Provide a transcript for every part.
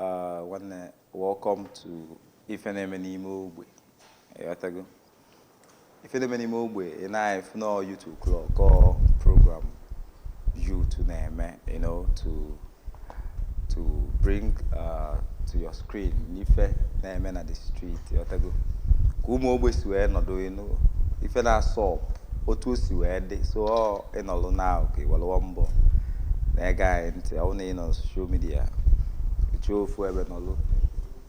Ah, nwanne welcome to ife na-eme n'ime ogbe ịghọtago ife na-eme n'ime ogbe ị na-afụ na YouTube club kọ program youth na-eme you know to to bring uh, to your screen ife na-eme na the street ịghọtago ka ụmụ ogbe si wee nọdụ enu ife na-asọ otu o si wee dị so ị nọlụ na ka iwelụwa mbọ na-ege anyị ntị ọ na ị nọ social media chọọ ofu ebe nọlụ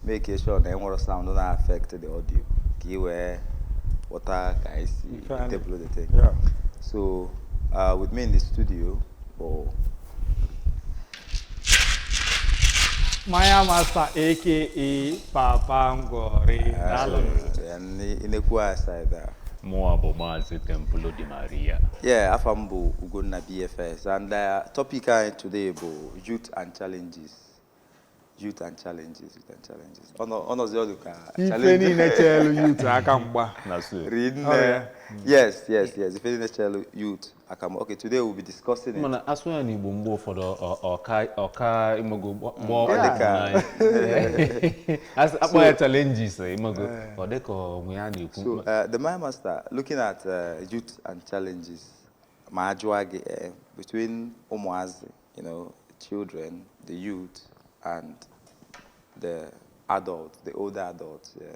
make sure na enwerọ sound na-affect the audio ka ị wee ghọta ka anyị si table the thing so uh, with me in the studio bụ Maya Master aka Papa Ngwori daalụ ị nekwaa side a mụwa bụ maazị Templo Di Maria yeah afa m bụ Ugonna BFS and uh, topic anyị today bụ youth and challenges youth and challenges youth and challenges Ọ nọ- ọ nọzi ọ dị ka ife challenge niile cheelu youth aka mgba na so rinne yes yes yes ife niile chelu youth aka mgba. Okay, today we'll be discussing it. Mana a sụa ya n'Igbo mgbe ụfọdụ ọ- ọ- ọka ọka ịmago gba- gba ọ ọkpụ dị ka- n'anya. As- a kpọọ ya challenges ịmago ọ dị ka onwe ya na-ekwu So, uh, the Maya Master, looking at uh, youth and challenges, ma ajụọ gị eh, between ụmụazị, you know, children, the youth, and the adults, the older adults, yeah.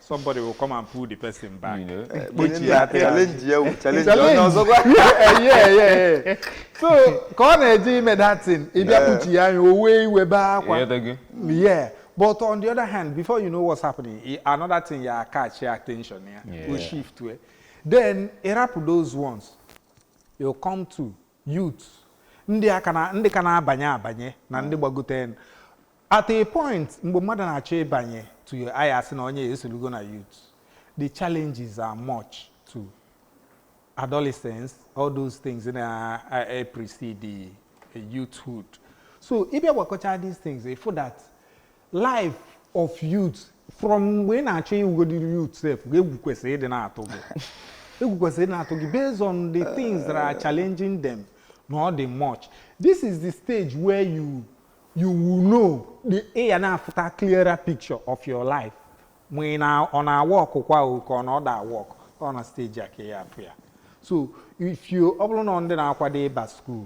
somebody will come and pull the person back. You know, eh, challenge ya challenge ya onye ọzọ gwa. So ka ọ na-eje ime that thing, ị bịa kpuchi ya anya, o wee iwe bee akwa. Yeah. But on the other hand, before you know what's happening, another thing ya catch your attention ya, yeah. o shift we. Then, ị rapụ those ones, you come to youth ndị a ka na- ndị ka na-abanye abanye na ndị gbagote at a point mgbe mmadụ na-achọ ịbanye to where a ya-asị na onye a esolugo na youth the challenges are much to adolescence all those things na uh, precede uh, youthhood so ị bịa gwakọcha these things ị fụ that life of youth from mgbe ị na-achọ ịwụgodi youth sef egwu kwesịrị ịdị na-atụ gị egwu kwesịrị ịdị na-atụ gị based on the things that are challenging them na ọ dị much this is the stage where you you will know the ị ya na-afụta clearer picture of your life ma ị na ọ na-aworkkwa o ka ọ na ọ da awork ọ na stage a ka ị ya afụ ya so if you ọ bụlụ na ndị na-akwado ịba school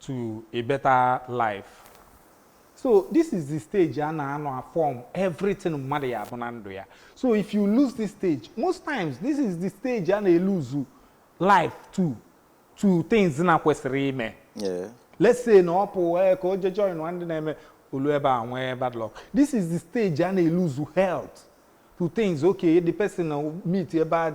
to a better life. So this is the stage a na-anọ a form everything mmadụ ya-abụ na ndụ ya. So if you lose this stage, most times this is the stage a na-eluzu life to to things na kwesịrị ime. Yeah. Let's say na ọ pụ eh, ka o je join ndị na-eme ọlụ ebe a nwee bad luck. This is the stage a na-eluzu health to things okay the person meet a bad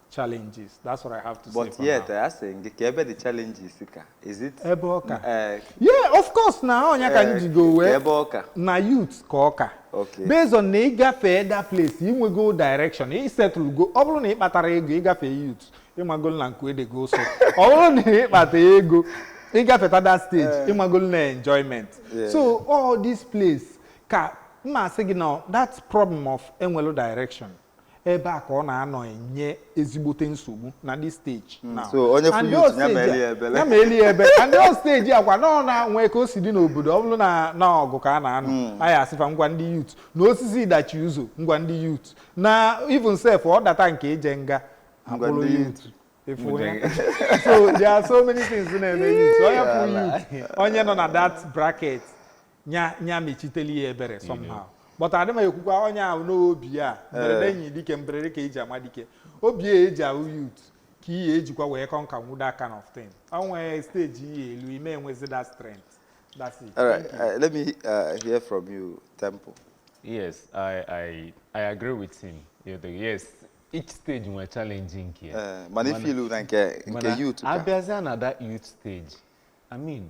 challenges that's what i have to say but for youth now. a sị gị ka ebe the challenges ka is it ebe ọ ka eh, yeah of course na onye ka m eh, jigo ka wee ebe ọ ka na youth ka ọ ka Okay. based on na ị gafee that place inwego direction ị settle go ọ bụrụ na ị kpatarọ ego ịgafe youth ị magolu na nke edego so ọ bụrụ na ị kpata ego ịgafeta that stage ị magolu na enjoyment Yeah. so all this place ka m ma asị gị na that problem of enwerọ direction ebe a ka ọ na-anọ enye ezigbote nsogbu na this stage hmm, now so onye fụ youth nya meeli ya ebele nya meeli ya ebele and ọ stage a kwa na ọ na-enwe ka o si dị n'obodo ọ bụrụ na na ọgụ ka a na-anụ hmm. anyị asị fa ngwa ndị youth na osisi dachi ụzọ ngwa ndị youth na even sef ọ data nke ije nga akpụrụ youth ị fụ ya so there are so many things na-eme youth onye fụ youth onye nọ na that bracket nya nya mechiteli ya ebere somehow but adị m ekwukwa onye ahụ na ọ bịa mberede Eh. enyi dike mberede ka eji ama dike obi a eji abụ youth ka ị ya-ejikwa wee conquer that kind of thing o nwee stage ị ya-elu ị ma enwezi that strength that's it All right, Thank you. uh, let me uh, hear from you, Temple. Yes, I, I, I agree with him. Yeah, the- Yes, each stage nwere challenge nke ya. Uh, mana ị fụlụ na nke nke youth ka. abịazịa na that youth stage i mean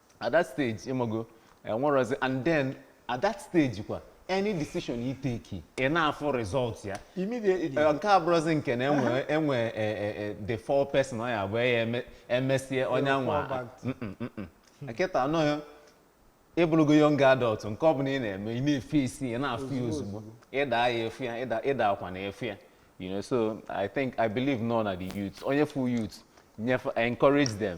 at that stage ịmago enwerọzi and then at that stage kwa any decision you take ị na-afụ result ya immediately Eh, nke a abụrọzi nke na enwe enwe eh, eh, eh, the four person ọ ya-abụ ya eme- emesie onye fall anwa back. kịta a na ọ gị ịbụrụgo young adult nke ọ bụla ị na-eme ị na-eface ị na-afụ ya ozugbo ịda ya efu ya ịda- ịda akwa na efu ya you know so i think i believe na ọ na the youth onye fụ youth nyefe encourage them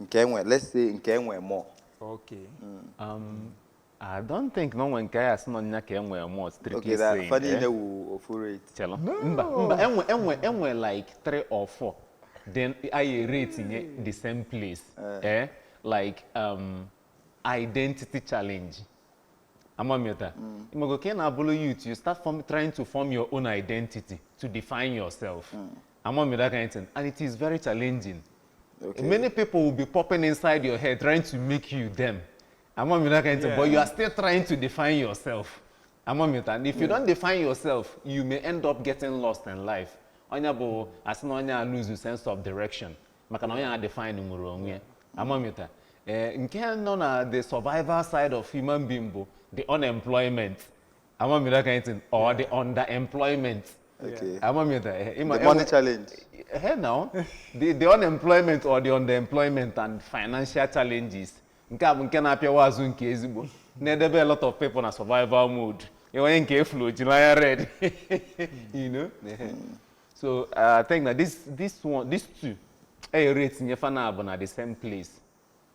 nke enwe let's say nke enwe more okay mm. um, I don't think na o nwe nke a ya-asị na ọ nya ka enwe more strictly saying ọ fa niile eh? wụ ofu rate chelu mba mba enwe enwe enwe like three or four then anyị rate nye the same place eh, eh? like um, identity challenge amamiota mm. ị mago ka ị na-abụrụ youth you start form, trying to form your own identity to define yourself mm. Ama m that kind of thing and it is very challenging. Okay. Many people will be popping inside your head trying to make you them. Ama m that kind of thing yeah. but you are still trying to define yourself. Ama m that if you yeah. don't define yourself you may end up getting lost in life. Onye bụ asị na onye a lose sense of direction maka na onye a define nwere onwe ya. Ama m that. Eh, nke nọ na the survival side of human being bụ the unemployment. unemployment or the underemployment Okay. amamiri eh, ịma- The money enwe- challenge. Hey now, the, the unemployment or the underemployment and financial challenges nke a bụ nke na-apịawa azụ nke ezigbo na-edebe a lot of people na survival mode ya onye nke e fụlụ o jiri anya red you know Ehe. so uh, I think that this this one these two e were tinye fa naabụ na the same place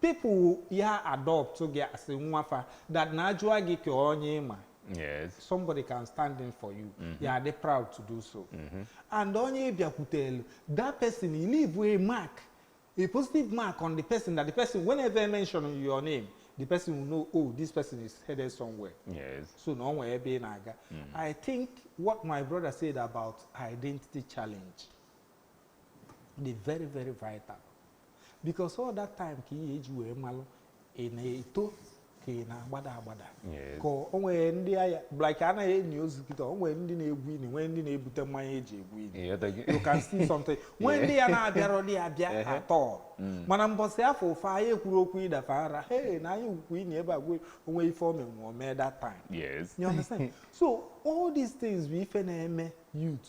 People will ya adopt gị as nwa fa that na ajụa gị ka onye ịma Yes. somebody can stand in for you you are dey proud to do so and onye bịakwutelu that person he leave a mark a positive mark on the person that the person whenever I mention your name the person will know oh this person is headed somewhere Yes. so na ọ nwere ebe ị na-aga i think what my brother said about identity challenge dị very very vital because all that time ka ị ya-eji wee malụ ị na-eto ka ị na-agbada agbada ka o nwere ndị ya like a na-eni ozu kịta o nwere ndị na-egwu ini nwee ndị na-ebute mmanya eji egwu ini you can see something nwee ndị ya na-abịarọdị abịa at all mm. mana mbọsị afụ fa ya-ekwuru okwu ịdafa ara he na anyị kwukwu ini ebe a gwe o nwe ife omenwe omee that time yes you understand so all these things bụ ife na-eme youth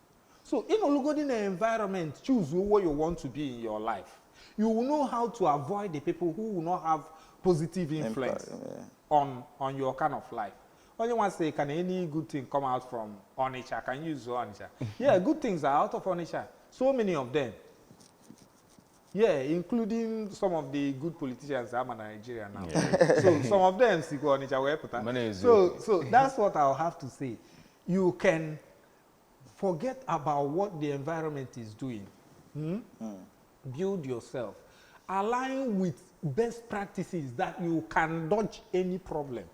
so ịnọlụgodi na environment choose who you want to be in your life you will know how to avoid the people who will not have positive influence Impact, yeah. on on your kind of life onye nwa say can any good thing come out from Onitsha can you use Onitsha yeah good things are out of Onitsha so many of them yeah including some of the good politicians ama na Nigeria now so some of them sikwa Onitsha wee pụta Mana eziokwu. so so that's what I'll have to say you can Forget about what the environment is doing. Hmm? Hmm. Build yourself. Align with best practices that you can dodge any problem.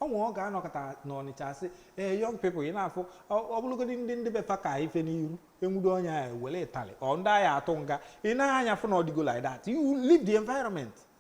ọ nwe ọ ga-anọkata n'Ọnịcha asị ee young people ị na-afụ ọ bụrụgodị ndị ndị be fa ka ife n'iru enwudo onye ahụ were ịtali or ndị a ya-atụ nga ị nee anya fụ na ọ dịgo like that you leave the environment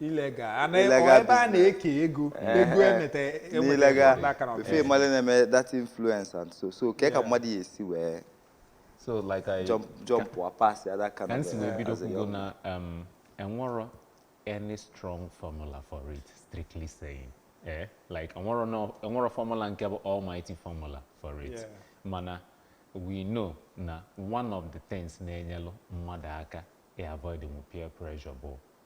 illegal a na- Illegal ọ ebe a na-eke ego ego emeta n'illegal emeta aka na befe ọbịa. mmadụ na-eme that influence and so so kee ka mmadụ ya-esi wee so like I jump jump or pass ya that kind ka of m si wee bido as a kwugo young- na um, enwero any strong formula for it strictly saying eh? like enwero no enwero formula nke bụ almighty formula for it Yeah. mana we know na one of the things na-enyelụ mmadụ aka i avoid mu peer pressure bụ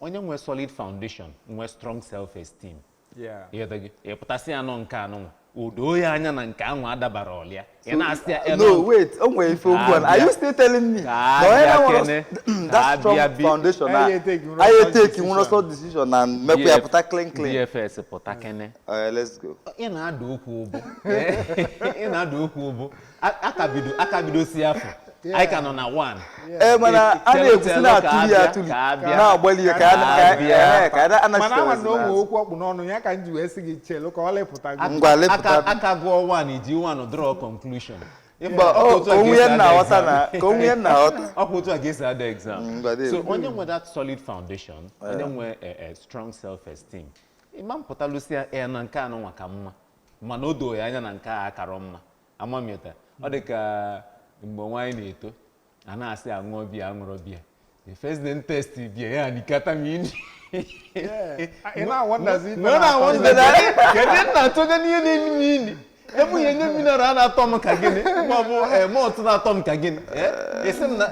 onye nwe solid foundation nwe strong self esteem Yeah. ị ghọtago ị pụta sị ya na nke anụnwa o doo ya anya na nke ahụ adabara ọlịa ị na-asị ya "Eh, no wait o nwere ife okwu a are you still telling me Ka na onye abịa na-enwere kene, ka that strong abịa bi- foundation na Anyị etake nwere anyị wrong etake nwere decision. sọ decision na mmekwa ya pụta clean clean DFS pụta kene Alright, let's go ị na-ada okwu ụbụ ị na-ada okwu ụbụ a ka bidosi afọ anyị ka nọ na one ee mana a na-ekwusi na-atụli ya atụli na-agbali ya ka a mana ama na o nwe okwu ọ kpụ n'ọnụ ya ka m ji wee sị gị chelu ka o lepụta gị aka gụọ one i ji one draw conclusion mba onwe ya na-aghọta na ka onwe ya na-aghọta ọ bụ otu a ga-esi ada exam so onye nwe that solid foundation onye nwe strong self esteem ị ma apụtalụ sị ya na nke anụnwa ka mma mana o doo ya anya na nke a akarọ mma ama m ịghọta ọ dị ka mgbe anyị na-eto a na-asị aṅụọ biya aṅụrọ biya the first day taste biya ya inukata m inu ị na-awonderzi ife na na-akọ ndị na- kedu nna atụnye n'ihe na-enu m inu ebe ihe nye mineral a na-atọ m ka gịnị ma ọ bụ eh, malt na-atọ m ka gịnị Eh, ị sị m na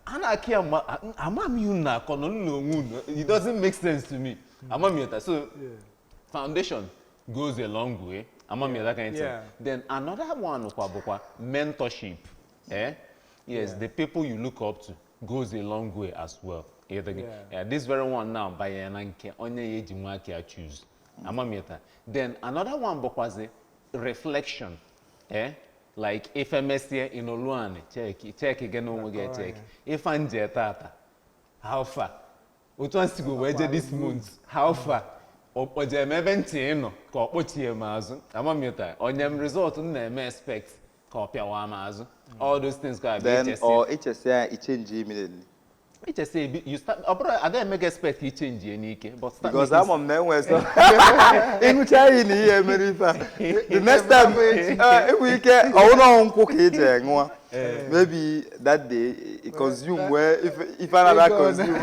a na-akị ya mba ama m ihe unu na-akọ nọ n'onwe unu it doesn't make sense to me ama m ịghọta so foundation goes a long way ama m ịghọta that kind thing Yeah. then another one kwa bụkwa mentorship eh? yes the people you look up to goes a long way as well Ịghọtago? Yeah. Yeah, this very one now banyere na nke onye ya ji nwa aka ya choose ama m ịghọta. then another one bụkwazi reflection eh? like ife mesịa ị nọlụ anị cheki cheki gị n'onwe gị Akọrọ cheki ife m je taata how far otu m sigo wee jee this month how far ọ kpọje m ebe ntị ị nọ ka ọ kpọchie m azụ ama m ịghọta o nye m result m na-eme expect ka ọ pịawa m azụ all those things ga-abịa then i chesịa ọ i chesịa i change immediately i chesịa maybe you start ọ bụrọ a ga-eme gị expect ka i change ya n'ike but start because making- ama m na enwe so ịṅụcha iyi na ihe mere ife a the next time eh, enwere ike ọ wụrụ ọnwụ nkwụ ka ị ji ṅụọ Eh. maybe that day i consume eh, wee ife anara consume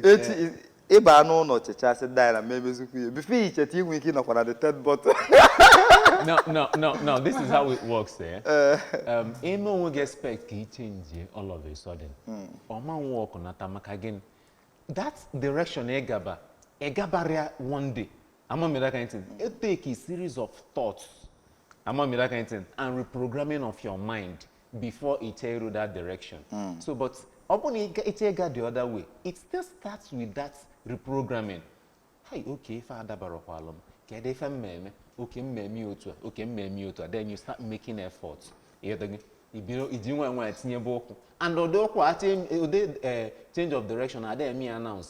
echi eh. ịba n'ụlọ checha sị na ị ma emezikwu ya before i cheta i nwee ike ịnọkwa na the third bottle no no no no this is how it works eh? um, ị mee onwe gị expect ka i change all of a sudden hmm. ọ ma aworkụ nata maka gịnị that direction ị gaba ị gabarọ ya one day ama m ịghọta that kind thing e take a series of thoughts ama m ịghọta that kind thing and reprogramming of your mind before e tell you that direction mm. so but ọ bụrụ na ị chọọ ịga the other way it still starts with that reprogramming hi okay ife adabarakwalu m kedu ife m na-eme ọ ka m na-eme otu a ọ ka m na-eme otu a then you start making effort ịghọtago i bido i ji nwayọọ nwayọọ tinyebe ụkwụ and ụdị ụkwụ a ụdị eh, change of direction adịghị eme ya announce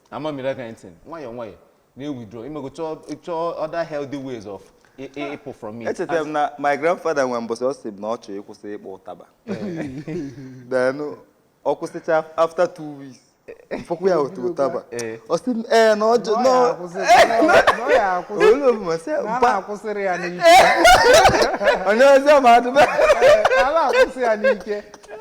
ama m ịghọta kind thing nwayọọ nwayọọ na-ewithdraw imego chọọ chọọ other healthy ways of ị- ị- ịpụ from it echetara m na my grandfather nwere mbọsị ọ sị m na ọ chọrọ ịkwụsị ịkpọ ụtaba then ọ kwụsịcha after two weeks m fụkwu ya otu ụtaba Eh. ọ sị m ee na ọ jụ Ọ ya akwụsị- ọ ya akwụsị olu omume sị na a mba na-akwụsịrị ya n'ike onye ọzọ ma adịba a na-akwụsị ya n'ike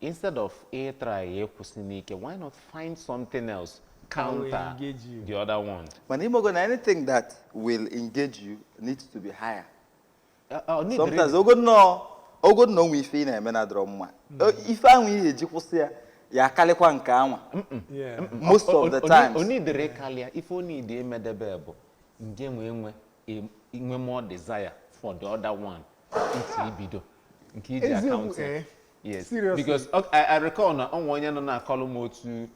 Instead of ị try ya ịkwụsị n'ike, why not find something else That will counter engage you. the other one? mana ị mago na anything that will engage you needs to be higher Uh, uh, need sometimes reason. ogo nnọọ ogo nnọọ nwe ife ị na-eme na-adịrọ mma O- ife ahụ ihe eji kwụsị ya ya akarịkwa nke anwa Yeah. most O- o- of the o- times o nidere karịa ife o nidi emedebe bụ nge nwe nwe e- inwe more desire for the other one into ibido nke iji eziokwu akaụntụ ee yes Seriously? because ok- I, I recall na o nwe onye nọ na-akọlụ m otu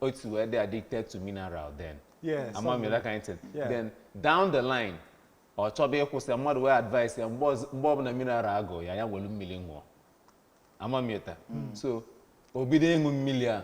otu wee dị addicted to mineral then Yes, ama m that kind of thing Yeah. then down the line ọ chọba ịkwụsị mmadụ wee advice ya mgbe ọz- mgbe ọbụla mineral agụ ya ya welu mmiri ṅụọ ama m yota so o bido ịṅụ mmiri a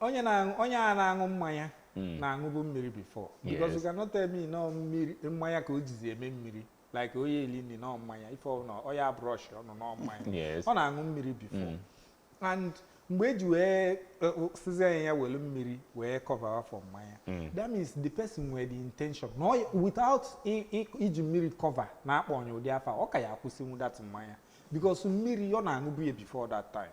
onye na-aṅụ onye a na-aṅụ mmanya hmm. na-aṅụbu mmiri before because you cannot tell me n'ọ mmiri mmanya ka o jizi eme mmiri like ọ ya-eli nri n'ọ mmanya ife ọbụla ọ ya brush ọnụ n'ọ mmanya ọ na-aṅụ mmiri before hmm. and mgbe eji wee e, sịzie ya welu mmiri wee cover for mmanya hmm. that means the person nwere the intention na without iji mmiri cover na-akpọ onye ụdị afa ọ ka ya akwụsịnwu that mmanya because mmiri ọ na-aṅụbu ya before that time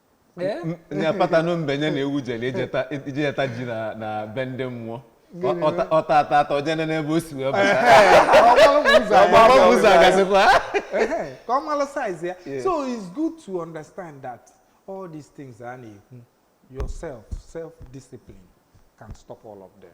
Eh? nya kpata na mbe nye na ewu jere ijeta ijeta ji na na be ndị mmụọ Ọ- ọta- ọta ata ata o je nene ebe o si wee bata ọgbara bụ ụzọ agasịkwa Ehe, ka ọ mara size ya Yeah. so it's good to understand that all these things a na-ekwu yourself self discipline can stop all of them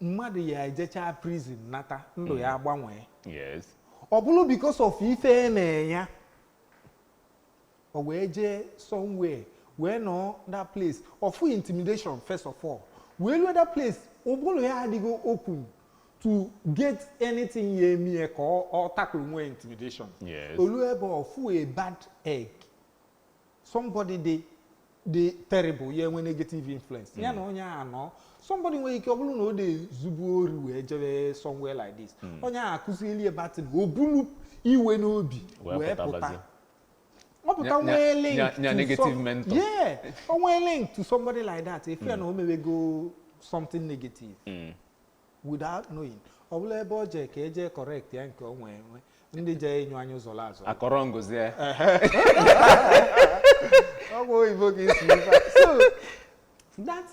mmadụ ya ejechaa prison nata ndụ ya agbanwee yes ọ bụrụ because of ife e mee ya o wee jee somewhere wee nọọ that place ọ fụ intimidation first of all wee lue that place ụbụrụ ya adịghị open to get anything ya emee ka ọ ọ tackle nwuo intimidation Yes. o lue ebe ọ fụ a bad egg somebody dị dị terrible ya enwe negative influence ya na onye a nọ somebody nwere ike ọ bụrụ na ọ dị ezubu ori wee jebe somewhere like this onye a akụzieli ya bad thing o bulu iwe n'obi Wee wee pụta pụtabazie. ọ pụta Nya- nwee nya- link nya- nya to negative some- mentor. yeah o nwee link to somebody like that ị fụ ya na o mewego something negative without knowing ọ bụlụ ebe ọ jee ka e jee correct ya nke o nwee enwe ndị jee inyo anya ụzọ la azụ akọrọ ngozi ya ọ bụ oyibo ka isi ife a. so that's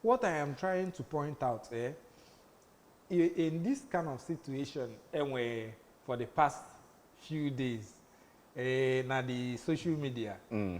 what i am trying to point out eh? I- in this kind of situation enwe for the past few days eh, na the social media Mm.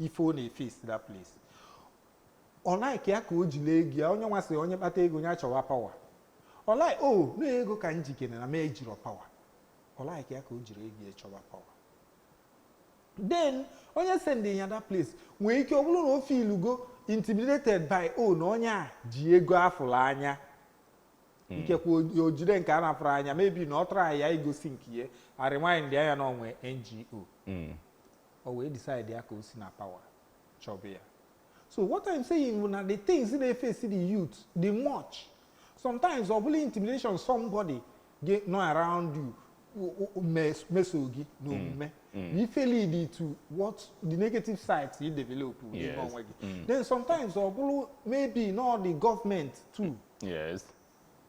ife ọ na-eface that place ọ like ya ka o jiri ego ya onye nwa sị onye kpata ego ya chọwa power ọ like o oh, na ego ka m jikere na m ejirọ power ọ like ya ka o jiri ego chọwa power then onye sendị ya that place nwee ike ọ bụrụ na o feelugo intimidated by o na onye a ji ego afụrụ anya hmm. ikekwe o jide nke a na-afụrụ anya maybe na ọ try ya igosi nke ya ịremind ya na o nwe ego hmm. o wee decide ya ka o si na power chọba ya so what i'm saying bụ na the things na-eface the youth the much sometimes ọ bụlụ intimidation somebody gị nọ around you meso gị n'omume mm. mm. ife lead to what the negative sides you develop n'ime onwe gị then sometimes ọ bụrụ maybe not the government too yes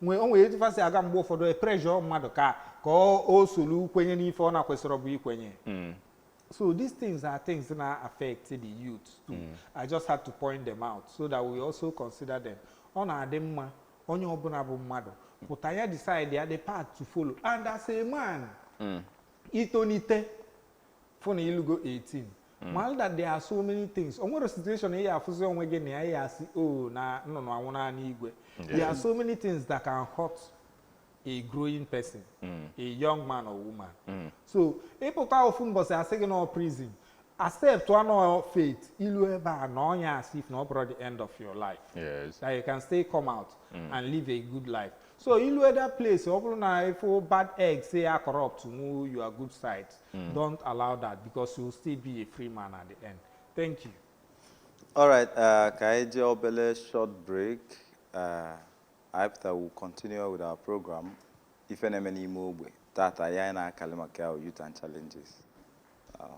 nwee o nwere etu fa si aga mgbe ụfọdụ epressure mmadụ ka ka ọ o solu kwenye n'ife ọ na-ekwesirọbu ikwenye so these things are things na-affect the youth too i just had to point them out so that we also consider them ọ na-adị mma onye ọbụla bụ mmadụ pụta ya decide ya the path to follow and as a man i tonite fụ na i lugo 18 Mm. malụ that there are so many things o nwere situation ị ya-afụzi onwe gị na ya ya asị o oh, na nnụnụ anwụna n'igwe there are so many things that can hurt a growing person mm. a young man or woman mm. so ị pụta ofu mbọsị a sị gị na prison accept one fate i lu ebe a na ọnya as if na ọ bụrọ the end of your life yes. that you can still come out mm. and live a good life so i lu that place ọ bụrụ na ị fụ bad eggs ya-acorruptụnwu your good side mm. don't allow that because you will still be a free man at the end thank you all right uh, ka anyị jee obele short break uh, after we continue with our program ife na-eme n'ime ogbe tata anyị na-akali maka youth and challenges uh,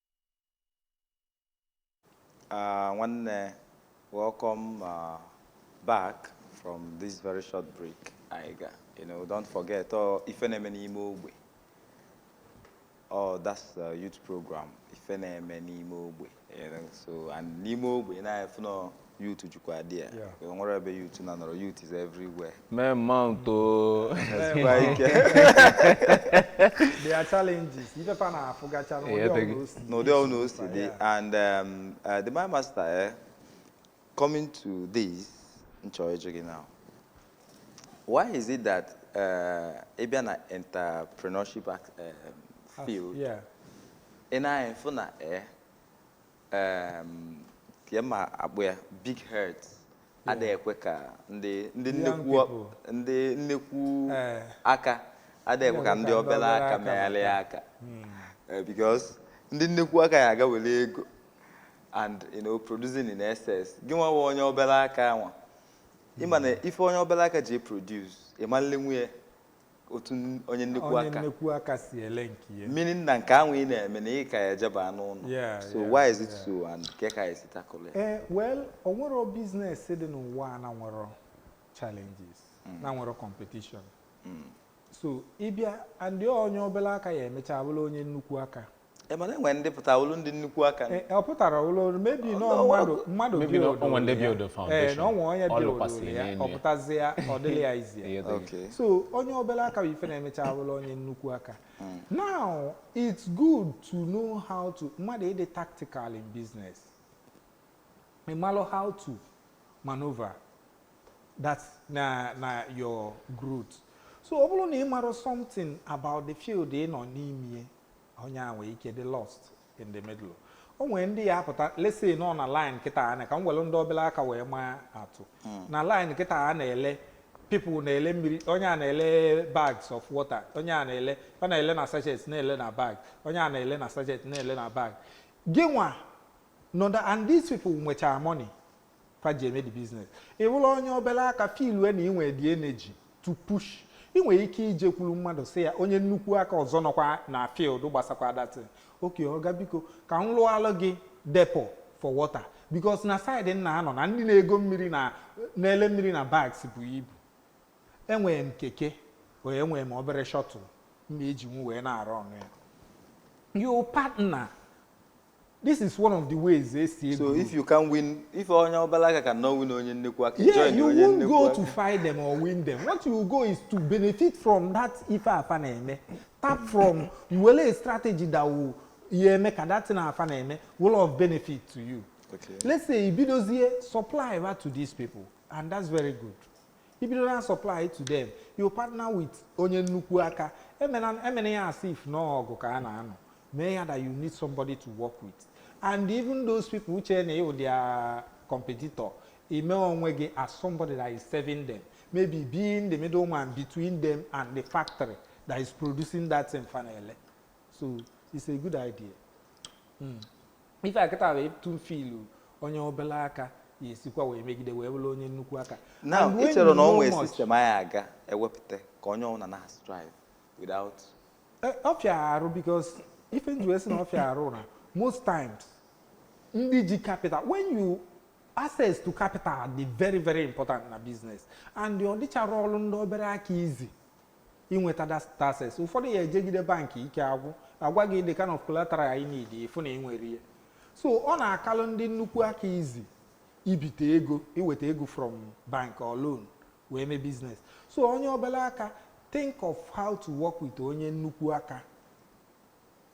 Uh, nwanne, welcome uh, back from this very short break. Anyị ga, you know, don't forget, ọ ife na-eme n'ime ogbe. Oh, that's the youth program. Ife na-eme n'ime ogbe. You know, so and n'ime ogbe now ị fụ na youth jukwa dị ya Yeah. o nwere ebe youth na-anọrọ youth is everywhere mee mount o Kwa ike There are challenges. Ife fa na-afụgacha n'ụdị Yeah, thank ọbụla you. o si dị. n'ụdị ọbụla o si dị Yeah. and um, uh, the my master eh, coming to this m chọ ịjụ gị now why is it that uh, ị bịa na entrepreneurship ac- um, field Yeah. ị na-afụ na eh, ka m akpọ ya big heads adịghị ekwe ka ndị nnekwu eh. aka adịghị ekwe ka ndị obere aka megharịa aka hmm. eh, because ndị nnekwu aka ya aga-ewere ego and you know producing in excess gị nwa onye obere aka anwa ị ma na hmm. ife onye obere aka ji produce ị ma-elenwu ya otu n- onye nnekwu aka si ele nke ya meaning na nke anwa ị na-eme na ị ka ya ejeba n'ụlọ Yeah, so yeah, why is it yeah. so and kee ka e si tackle ya ee well o nwero business dị n'ụwa a na nwero challenges na nwero competition so ị bịa and onye obere aka ya emecha bụrụ onye nnukwu aka mana e nwe ndị pụtalụ ndị nnukwu aka E, ọ pụtara ụlọ ọrụ maybe na Ọlụ- mmadụ mmadụ Maybe builduo na o nwe ndị ya. builduo Ee, foundation. na o nwe onye Ọ builduo lụkwasịrị ya n'elu ọ ya. pụtazie ọ dịrị ya easy ya. Ihe dị. Okay. so onye obere aka bụ ife na-emecha abụrụ onye nnukwu aka now it's good to know how to mmadụ ịdị tactical in business ị malụ how to maneuver that na na your growth so ọ bụrụ na ị marụ something about the field ị nọ n'ime onye a nwere ike dị lost in the middle o nwere ndị ya apụta let's say nọ na line kịta anwa ka m were ndị obere aka wee maa atụ hmm. na line kịta a na-ele people na-ele mmiri onye a na-ele bags of water onye a na-ele ọ na-ele na sachet na-ele na bag onye a na-ele na sachet na-ele na bag gị nwa nọ there and these people nwechara money fa ji eme the business ị bụrụ onye obere aka feelue na i nwe the energy to push ị nwere ike ijekwuru mmadụ sị ya onye nnukwu aka ọzọ nọkwa na field gbasakwa that thing okay ọga biko ka m lụọlụ gị depot for water because na side m na-anọ na ndị na-ego mmiri na na-ele mmiri na bags bụ ibu enwere m keke wee enwere m obere shuttle m ma-ejinwu wee na-arụ ọnụ ya your partner This is one of the ways they see. So if you can win, if onye obalaga cannot win onye nnekwu aka, yeah, join you onye won't go to fight them or win them. What you go is to benefit from that ife afa na-eme. Tap from you were a strategy that will ihe eme ka that thing afa na-eme will of benefit to you. Okay. Let's say ibidozie supply right to these people and that's very good. Ibido na supply to them. You partner with onye nnukwu aka. Emena emena ya as if n'ọgụ ka a na-anọ. meaning na you need somebody to work with and even those people ị che na ị wụ their competitor i mee onwe gị as somebody that is serving them maybe being the middleman between them and the factory that is producing that thing finally so it's a good idea mm. ife a kịta wee tụ filu onye obere aka ya esikwa wee megide wee bụrụ onye nnukwu aka now ị chere na ọ nwee system anyị ga-ewepụta ka onye ọbụla na-strive without Eh, ọ fịa arụ because ife m ji wee sị na ọ fịa arụ wụ na most times ndị ji capital when you access to capital dị very very important na business and ọ dịcharọlụ ndị obere aka easy inweta that access ụfọdụ ya ejegide bank ike agwụ a gwa gị the kind of collateral ị need ị fụ na i nwerọ ya so ọ na-akalụ ndị nnukwu aka easy ibite ego iweta ego from bank or loan wee mee business so onye obere aka think of how to work with onye nnukwu aka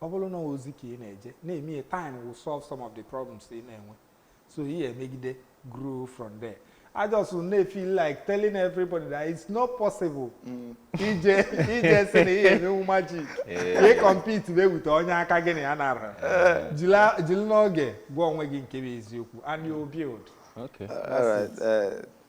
ọ bụrụ na ozi ka ị na-eje na-eme ya time will solve some of the problems ị na-enwe so ị ya-emegide grow from there I just may feel like telling everybody that it's not possible. Mm. Ije ije sị na ị ya-emenwu magic. wee compete be with onye aka gị na ya nara. Eh. Jili n'oge gwa onwe gị nke bụ eziokwu and you build. Okay. All right. Uh,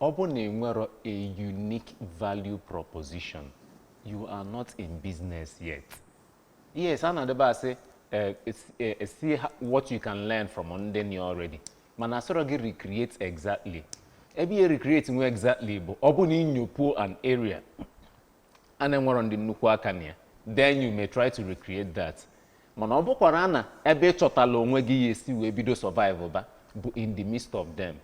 Ọ bụ na enwerọ a unique value proposition, you are not in business yet. Yes, a na-adịba asị eh, it's, eh, eh, see ho- what you can learn from ndị nọ already. Mana asịrọ gị recreate exactly. Ebe ị ya recreate nwu exactly bụ ọ bụ na i nyopuo an area a na-enwerọ ndị nnukwu aka na ya then you may try to recreate that mana ọ bụkwara na ebe ị chọtala onwe gị ya esi wee bido survive ba bụ in the midst of them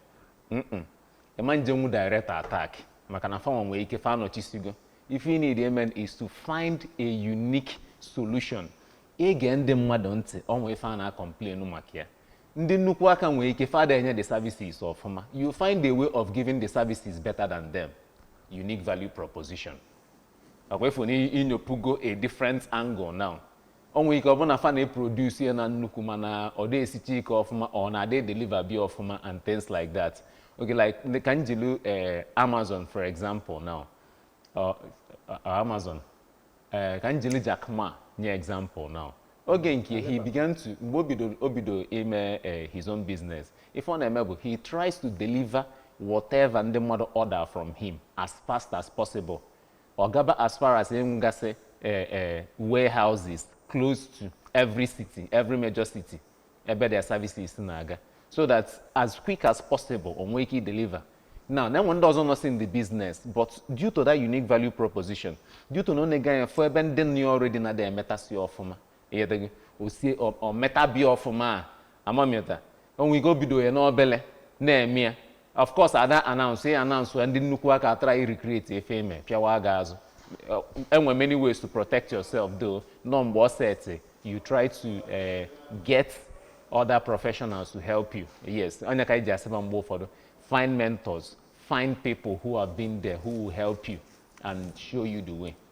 ị ma njenwu direct attack maka na fanwa nwere ike fa anọchisigo ife ị need ime is to find a unique solution i gee ndị mmadụ ntị o nwe ife a na-acomplain maka ya ndị nnukwu aka nwere ike fa ada enye the services ọfụma you find a way of giving the services better than them unique value proposition ọ kwa ị fụ na i nyopugo a different angle now o nwere ike ọ bụ na fa na-eproduce ya na nnukwu mana ọ da esicha ike ọfụma or na ada deliver be ya ọfụma and things like that okay like ka m jiri eh, Amazon for example now Ọ- ọ- Amazon eh, ka m jiri Jack Ma nye example now oge nke he began to mgbe o bidoro o bidoro ime eh, his own business ife ọ na-eme bụ he tries to deliver whatever ndị mmadụ order from him as fast as possible Ọ gaba as far as inwegasị eh, eh, warehouses close to every city, every major city ebe their services si na-aga so that as quick as possible o nwee ike ideliver now na enwe ndị ọzọ nọsị in the business but due to that unique value proposition due to na o nega anya fụ ebe ndị nọ already na-ada emetasị ọfụma ị ghọtago o sie o metabe ya ọfụma a amamịta o nwe ike o bido ya n'obele na-eme ya of course ada announce ya announce ya ndị nnukwu aka atry irecreate ife e me pịawa gaa azụ e nwe many ways to protect yourself though nọ mgbe ọ set you try to uh, get other professionals to help you yes ọ nya ka e ji asịba mgbe ụfọdụ find mentors find people who have been there who will help you and show you the way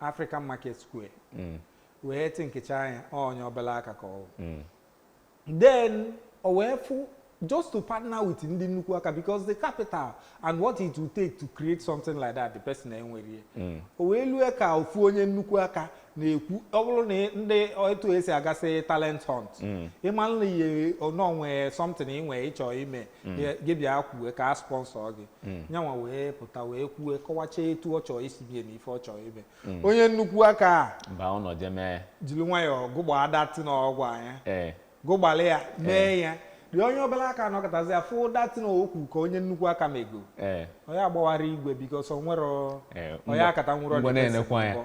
African Market Square mm. wee thinkịchaa ya onye obere aka ka ọ mm. then o wee fụ just to partner with ndị nnukwu aka because the capital and what it will take to create something like that the person enwerọ ya mm. o wee lue ka ofu onye nnukwu aka na-ekwu ọ bụrụ na ndị etu e si agasị talent hunt ị manụ na ihe o nwe something ị nwee ị chọ ime mm. gị bịa kwue ka a sponsor gị mm. nyanwa wee pụta wee kwue kọwacha etu ọ chọọ isi bie na ife ọ chọọ ime mm. onye nnukwu aka a jiri nwayọọ gụgbaa that na ọgwụ anya eh. gụgbalị ya mee eh. ya the onye obere aka nọkatazia afụ that na okwu ka onye nnukwu aka mego eh. onye agbawara igwe because o nwere onye akata nwụrụ ọdịnihu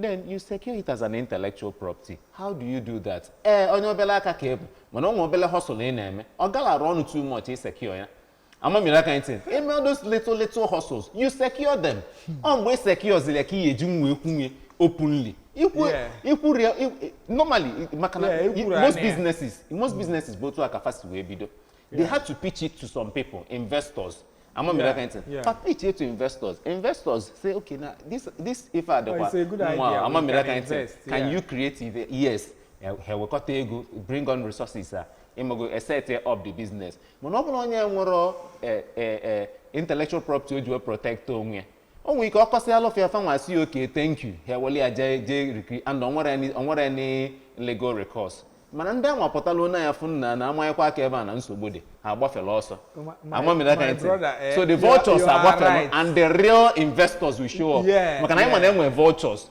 then you secure it as an intellectual property how do you do that ee eh, onye obele aka ka ị bụ mana o nwe obele hustle ị na-eme ọ galarọ ọnụ too much ị secure ya amamiri aka ntị eme all those little little hustles you secure them ọ mgbe ị secure ziri ya ka ị eji nwa ekwunye openly ikwu ikwu real normally maka na most businesses most businesses bụ otu a ka fa si wee bido they had to pitch it to some people investors ama m aka ntị Yeah. fa pitch it to investors investors say okay na this this ife a Oh, dịkwa it's a good idea. mma ama We m can aka ntị invest, can yeah. you create it yes Eh, ha ewekọta ego bring on resources a ịmago e set up the business mana ọ bụrụ onye nwerọ eh, eh, eh, intellectual property o ji wee protect onwe ya o nwere ike ọ kọsịalụ fa ya fanwa asị ya okay thank you ha eweli ya jee jee recreate and o nwerọ any- o nwerọ any legal recourse mana ndị anwa pụta lee anya fụ nna na a manyekwa aka ebe a na nsogbu dị ha agbafela ọsọ My- my- amamila my ka ntị brother, eh, so the you are- vultures you are agbafela right. and the real investors will show up Yes, maka na anyị ma na yes. e nwe vultures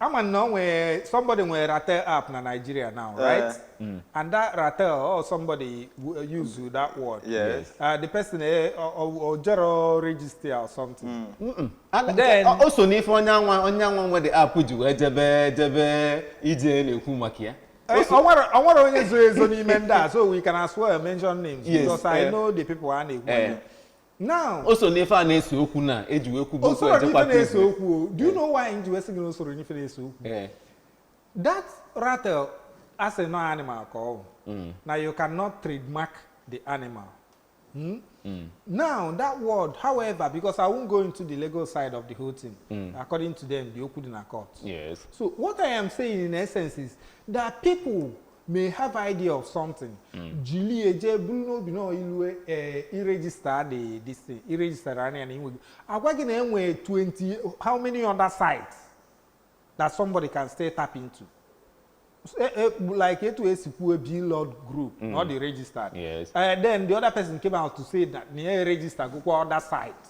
ị ma na o nwere somebody nwere ratel app na nigeria now eh. right mm. and that ratel or oh, somebody uh, use that word yes uh, the person eh, o jerọ register or something mm. and then o so n'ife onye anwa onye anwa nwe the app ji wee jebe jebe ije na-ekwu maka ya eh, o nwere onye zo ezo n'ime ndị a so we can as well mention names yes, because i know the people a na-ekwu now o so n'ife a na-ese okwu na eji wee kwubu o okwu soro n'ife ejekwa na-ese prison. okwu o. do you know why nji wee sị gị na o soro n'ife na-ese okwu Eh, that ratel as a known animal ka ọ bụ na you cannot trademark the animal Hmm? now that word however because i won't go into the legal side of the whole thing according to them the okwu dị na court yes so what i am saying in essence is that people may have idea of something hmm. jili ya jee buru n'obi na ilue eh, ị register the this thing ị register ya na inwe agwa gị na e nwe 20 how many other sites that somebody can still tap into eh, eh, like etu e si kwuo blord group hmm. not the registered yes. uh, then the other person came out to say that na ya register gokwa other sites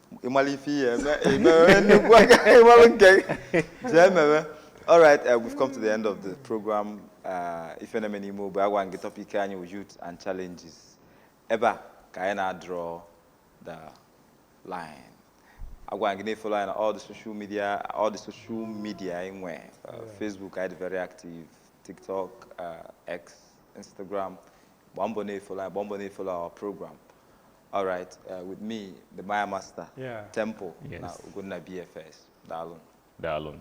ị mara ife ihe eme emewe nnukwu aka ị mara nke gị. jee mewe alright uh, we've come to the end of the program uh, ife na-eme n'ime ogbe agwa gị topic anyị wụ youth and challenges ebe a ka anyị na-draw the line agwa gị na-efollow anyị na all the social media all the social media anyị nwe uh, facebook anyị dị very active tiktok uh, x instagram gbaa mbọ na-efollow anyị gbaa mbọ na-efollow our program All right, uh, with me, the Maya Master, yeah. Temple, yes. na Ugunna BFS. Daalụ. Daalụ.